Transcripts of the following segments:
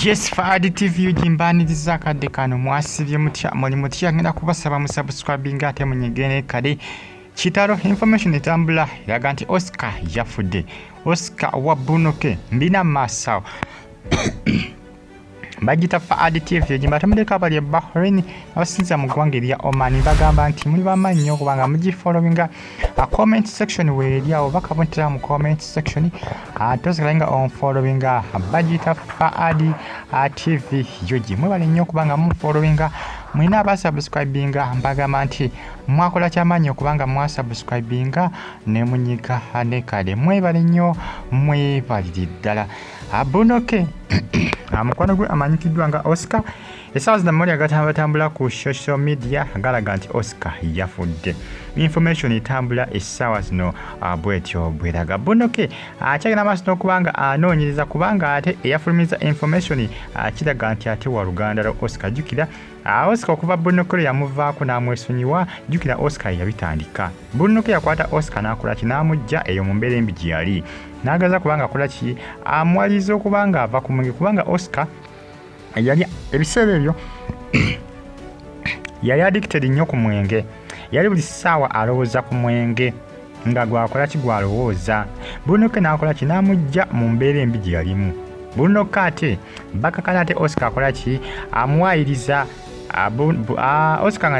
Yes Fahad TV ujimbaniriza akadde kano mwasibye mutya muli mutya ngenda kubasaba musubscribinga ate munyigene kale kitalo information etambula eraga nti Oscar yafudde Oscar wa Bunoke mbina masawo bagita faad tv egimba temuleka abali e bahrain abasinzira mu ggwanga erya oman bagamba nti muli bamaanyi nyo okubanga mugifollowinga a comment section weeri awo bakabuntira mu comment section tosigala nga onfollowinga bagita faad tv yogi mwebale nnyo okubanga mufollowinga mwina abasubscribinga mbagamba nti mwakola kyamaanyi okubanga mwasubscribinga nemunyiga ne kale mwebale nnyo mwebalire ddala Abunoke amukwano gwe amanyikiddwa nga Oscar esaawa zino amawulire agatambulatambula ku social media galaga nti Oscar yafudde information etambula essaawa zino ah, bwetyo bweraga bonoke akyagenda ah, maaso n'okubanga anoonyereza kubanga ate eyafulumiza information akiraga ah, nti ate wa luganda lwa oscar jukira Ah, oscar okuva bunokero yamuvaako n'amwesonyiwa jjukira oscar yeyabitandika bunokero yakwata oscar n'akola ki n'amujja eyo mu mbeera embi gye yali n'agaza kubanga akola ki amwaliza okuba nga ava ku mwenge kubanga oscar yali ebiseera ebyo yali addicted nnyo ku mwenge yali buli ssaawa alowooza ku mwenge nga gwakola ki gwalowooza bunoke n'akola ki n'amujja mu mbeera embi gye yalimu bunoke ate bakakana ate oscar akola ki amuwaayiriza oscar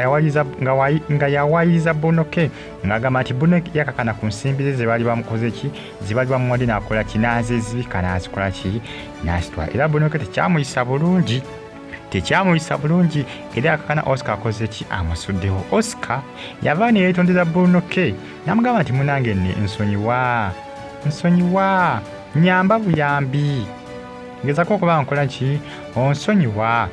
nga yawaayiriza bunoke ng'agamba nti bunoke yakakana ku nsimbi ze zebaali bamukoze ki zebaali bamuwadde n'akola ki n'azezibika n'azikola ki n'azitwala era bunoke tekyamuyisa bulungi tekyamuyisa bulungi era yakakana oscar akoze ki amusuddewo oscar yava ne yeetondera bruno k namugamba nti munange ne nsonyiwa nsonyiwa nyamba buyambi ngezako okuba nkola ki onsonyiwa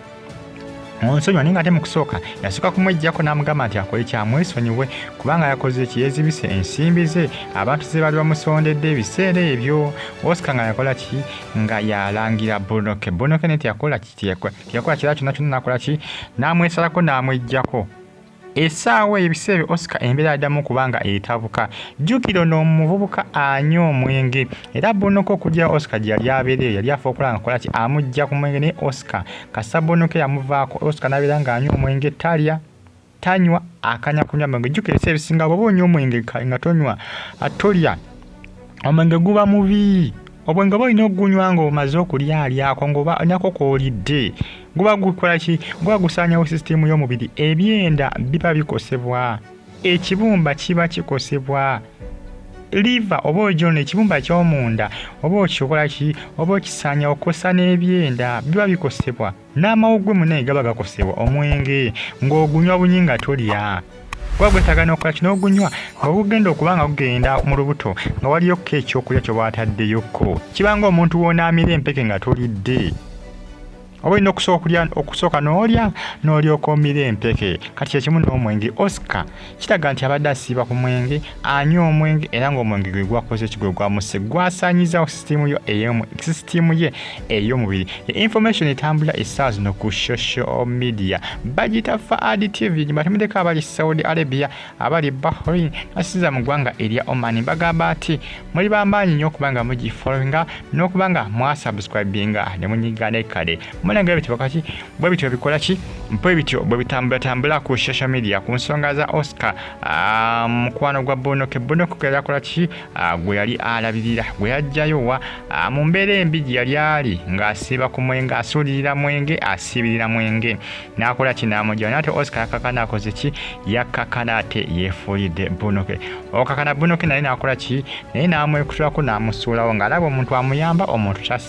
onsonyiwa naye nga ate mu kusooka yasooka kumwejjako n'amugamba nti akole kyamwesonyiwe kubanga yakoze ki yeezibise ensimbi ze abantu ze baali bamusondedde ebiseera ebyo oscar nga yakola ki nga yalangira bonoke bonoke ne teyakola ki teyakola kira kyonna kyonna nakola ki namwesalako namwejjako esaawa ebiseera ebyo oscar embeera adamu kubanga etabuka jjukira ono omuvubuka anya omwenge era bonoka okujja oscar gye yali abeereyo yali afa okulaba nga kola ki amujja ku mwenge naye oscar kasita bonoka yamuvaako oscar nabeera nga anya omwenge talya tanywa akanya kunywa mwenge jukira ebiseera ebisinga bwoba onywa omwenge nga tonywa tolya omwenge guba mubi obwenge oba olina okugunywa nga omaze okulya alyako ngaoba onyako kwolidde guba gukolaki guba gusaanyawo sisitiimu y'omubiri ebyenda biba bikosebwa ekibumba kiba kikosebwa liva oba ogyona ekibumba ky'omunda oba okikola ki oba okisaanyawo kosa n'ebyenda biba bikosebwa n'amawuggwe munaye gaba gakosewa omwenge ng'ogunywa bunyi nga tolya kuba gwetaaga n'okukola kino ogunywa nga gugenda okuba nga gugenda mu lubuto nga waliyokko ekyokulya kye waataddeyokko kiba nga omuntu woonaamira empeke nga tolidde oba olina okusooka n'olya n'olyoka omira empeke kati kyekimu n'omwenge oscar kiraga nti abadde asiiba ku mwenge anywa omwenge era ng'omwenge gwe gwakoze ki gwe gwamuse gwasaanyizawo sisitiimu yo eyomu sisitiimu ye ey'omubiri information etambula essaawa zino ku social media bagiyita faad tv gibatemudeko abali saudi arabia abali bahrain nasiza mu ggwanga erya omani bagamba ati muli bamaanyi nnyo okuba nga mugifollowinga n'okuba nga mwasubscribinga ne munyiga ne kale mulengera bitibakaki bwe bityo bikola ki bwe bityo bwe bitambulatambula ku social media ku nsonga za oscar ah, mukwano gwa bonoke bonoke gwe yakola ki ah, gwe yali alabirira gwe yajjayo wa ah, mu mbeera embi gye yali ali ng'asiiba ku mwenge asuulirira mwenge asiibirira mwenge n'akola ki n'amujjayo naate oscar yakakana akoze ki yakakana ate yeefuulidde bonoke okakana bonoke naye n'akola ki naye n'amwekutulako n'amusuulawo ng'alaba omuntu amuyamba omuntu kyas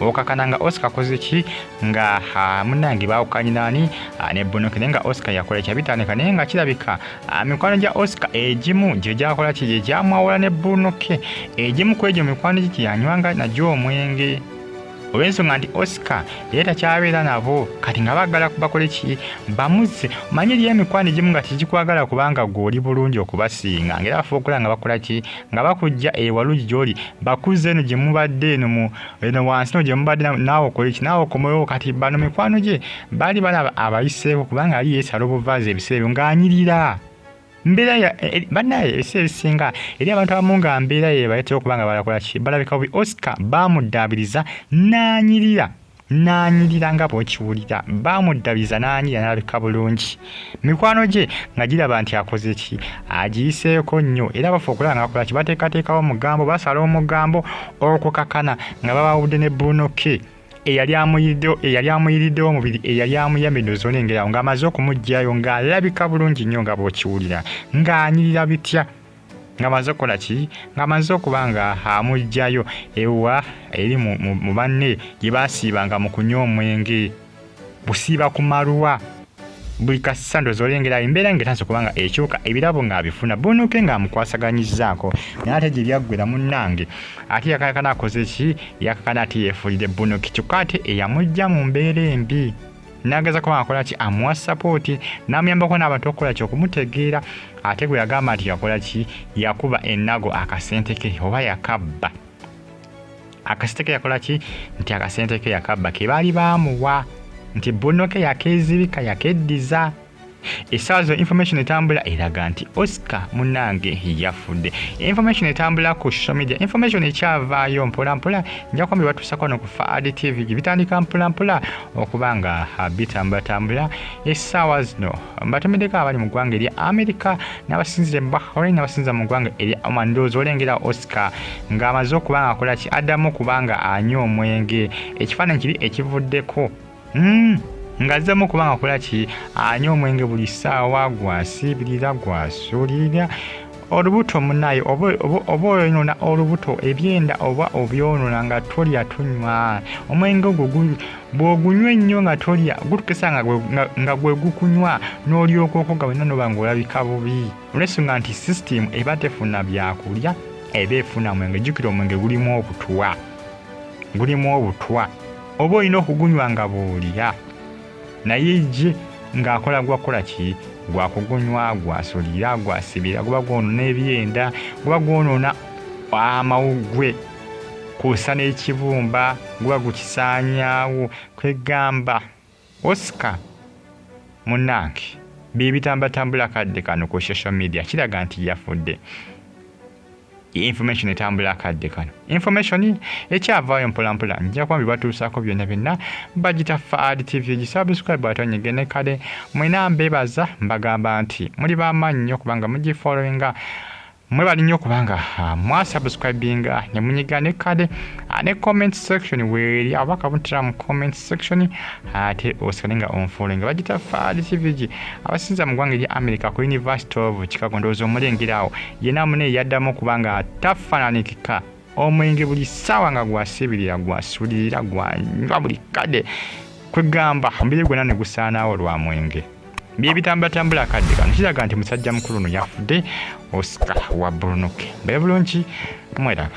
okakana nga oscar koze ki nga munange bawukanye nani ne bonoke naye nga oscar yakola kyabitandika naye nga kirabika mikwano gya oscar egimu gye gyakola ki gye gyamwawula ne bonoke egimu ku egyo mikwano gye gyeyanywanga nagyo omwenge olw'ensonga nti oscar yali takyabeera nabo kati nga bagala bakole ki bamuzze omanyi eriyo emikwano egimu nga tegikwagala kubanga gweoli bulungi okubasinga ngaera bafuba okola nga bakola ki nga bakujja ewalugi gyoli bakuzza eno gye mubadde eno mu eno wansi no gye mubadde naawe okola eki naawe okomewo kati bano mikwano gye baali balaba abayiseeko kubanga ali yeesala obuvaazi ebiseera ebyo ng'anyirira mbeera e, e, banaye ebiseera ebisinga eri abantu abamu nga mbeera yebaletera okuba nga balakola ki balabika bubi oscar baamudaabiriza n'anyirira n'anyirira nga bw'okiwulira baamuddabiza n'anyira n'alabika bulungi mikwano gye nga giraba nti akoze ki agiyiseeko nnyo era bafa okulaba ngaakola ki bateekateekawo omugambo basala omugambo okukakana nga babawudde ne bruno ke eyali amuyiriddewo eyali amuyiriddewo omubiri eyali amuyamidde ozona engeri awo ng'amaze okumugyayo ng'alabika bulungi nnyo nga bw'okiwulira ng'anyirira bitya nga maze okukola ki nga maze okuba nga amugjayo ewa eri mu banne gye basiibanga mu kunywa omwenge busiiba ku maluwa buli kasisa ndoza olengera embeera nga etansi kubanga ekyuka ebirabo ng'abifuna bunuke ng'amukwasaganyizzaako naye ate gye byaggwera munnange ate yakakana akoze ki yakakana ate yeefuulire bunuki kyokka ate eyamujja mu mbeera embi nageza kuba akola ki amuwa support namuyambako n'abantu okukola ki okumutegeera ate gwe yagamba nti yakola ki yakuba enago akasente ke oba yakabba akasente ke yakola ki nti akasente ke yakabba ke baali baamuwa nti bunno ke yakeezibika yakeddiza esaazo information etambula eraga nti oscar munange yafudde information etambula ku social media information ekyavaayo mpolampola njakuba bebatuusako no ku faad tv gyebitandika mpolampola okuba nga bitambulatambula essaawa zino mbatomeddeko abali mu ggwanga erya america n'abasinzira e bahrain n'abasinzira mu ggwanga erya oman ndowooza olengera oscar ng'amaze okuba nga akolaki addamu kubanga anywa omwenge ekifaananyi kiri ekivuddeko Mm, ngazzemu kuba ngakola ki anywa omwenge buli ssaawa gwasiibirira gwasuulirira olubuto munaye oba oyonona olubuto ebyenda oba obyonona nga tolya tunywa omwenge ogwo bwogunywa ennyo nga tolya gutukisa nga gwe gukunywa n'olyoka okoga wena noba nga olabika bubi olwensonga nti sisitimu eba tefuna byakulya eba efuna mwenge jjukira omwenge gulimu obutwa gulimu obutwa oba olina okugunywa nga bw'olya naye ye ng'akola gwakukola ki gwakugunywa gwasulira gwasibira guba gwonoona ebyenda guba gwonoona amawuggwe kwosa n'ekibumba guba gukisaanyaawo kwegamba Oscar munange byebitambatambula kadde kano ku social media kiraga nti yafudde information etambula akadde kano information ekyavaayo mpolampola nja kuba bibatuusaako byonna byonna bagita faad tv gisubscribe atonyege ne kale mwena mbebaza mbagamba nti muli bamaanyi nnyo kubanga mugifollowinga mwebali nnyo kubanga ah, mwasubscribinga ah, ne munyiga ne kade ah, ne comment section weeri aba kabuntira mu comment section ate osigale nga onfuule nga bagita faali cvg abasinza mu ggwanga erya america ku university of chicago ndowooza omulengera awo yena mune yaddamu kubanga tafaananikika omwenge buli ssaawa nga gwasibirira gwasulirira gwanywa buli kade kwegamba omubiri gwonna ne gusaanaawo lwa mwenge byebitambulatambula akadde kano kiraga nti musajja mukulu ono yafudde osika wa burunuke bebulungi mweraba